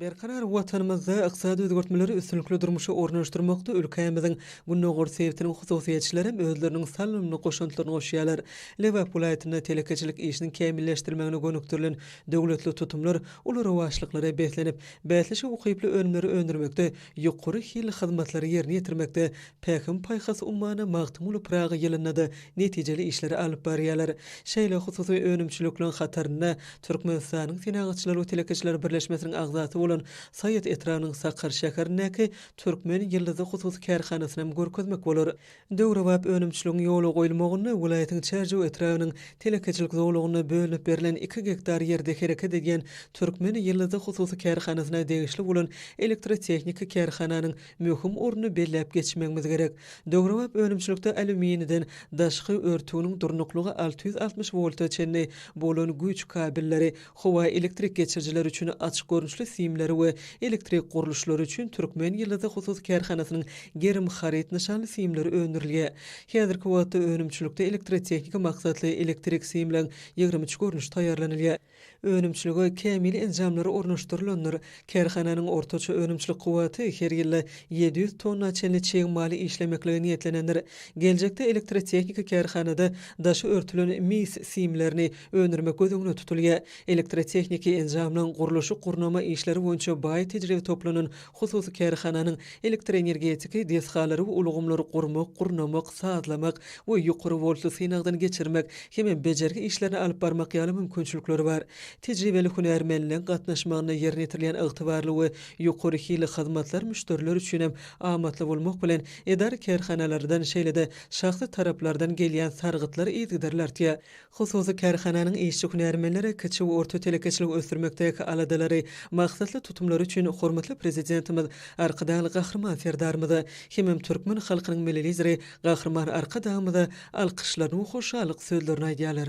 Berkarar Watanymyzda ykdysady özgertmeleri üstünlikli durmuşa ornaşdyrmakda ülkämiziň gündogar sebitiniň hususyýetçileri hem özleriniň salymly goşantlaryny goşýarlar. Lebap welaýatynda telekeçilik işiniň kämilleşdirilmegine gönükdirilen döwletli tutumlar uly rowaçlyklara beslenip, bäsleşige ukyply önümleri öndürmekde Ýokary hilli hyzmatlary ýerine ýetirmekde Pähim-paýhas ummany Magtymguly Pyragy ýylynda-da netijeli işleri alyp barýarlar. Şeýle hususy önümçilikleriň hatarynda Türkmenistanyň Senagatçylar we telekeçiler birleşmesiniň agzasy bolan Saýat etrabynyň Sakar şäherindäki Türkmen ýyldyzy hususy kärhanasynam görkezmek bolar. Döwrebap önümçiligiň ýola goýulmagynda welaýatyň Çärjew etrabynyň telekeçilik zolagynda bölünip berlen iki gektar ýerde hereket edýän Türkmen ýyldyzy hususy kärhanasyna degişli bolan elektrotehniki kärhananyň möhüm ornuny belläp geçmegimiz gerek. Döwrebap önümçilikde alýuminiden daşky örtüginiň durnuklygy alty ýüz altmyş wolta çenli bolan güýç kabelleri, Howa elektrik geçirijileri üçin açyk görnüşli simleri we elektrik gurluşlary üçin Türkmen ýyldyzy hususy kärhanasynyň gerim haryt nyşanly simleri öndürilýär. Häzirki wagtda önümçilikde elektrotehniki maksatly elektrik simleň ýigrimi üç görnüşi taýýarlanylýar. Önümçilige kämil enjamlar ornaşdyrylandyr. Kärhananyň ortaça önümçilik kuwwaty her ýylda ýedi ýüz tonna çenli çig maly işlemeklige niýetlenendir. Geljekde elektrotehniki kärhanada daşy örtülen mis simlerini öndürmek göz öňünde tutulýar. Elektrotehniki enjamlaryň gurluşyk-gurnama işleri boýunça baý tejribe toplanan hususy kärhananyň elektroenergetiki desgalary we ulgamlary gurmak, gurnamak, sazlamak we ýokary woltly synagdan geçirmek hem-ä bejergi işlerini alyp barmak ýaly mümkinçilikleri bar. Tejribeli hünärmenleň gatnaşmagynda ýerine ýetirilýän ygtybarly we ýokary hilli hyzmatlar müşderiler üçin hem amatly bolmak bilen, edara-kärhanalardan, şeýle-de şahsy taraplardan gelýän sargytlar yzygiderli artýar. Hususy kärhananyň işçi hünärmenleri kiçi we orta telekeçiligi ösdürmekdäki aladalary, maksatly tutumlary üçin hormatly Prezidentimiz Arkadagly Gahryman Serdarymyza hemem türkmen halkynyň Milli Lideri Gahryman Arkadagymyza alkyşlaryny we hoşallyk sözlerini aýdýarlar.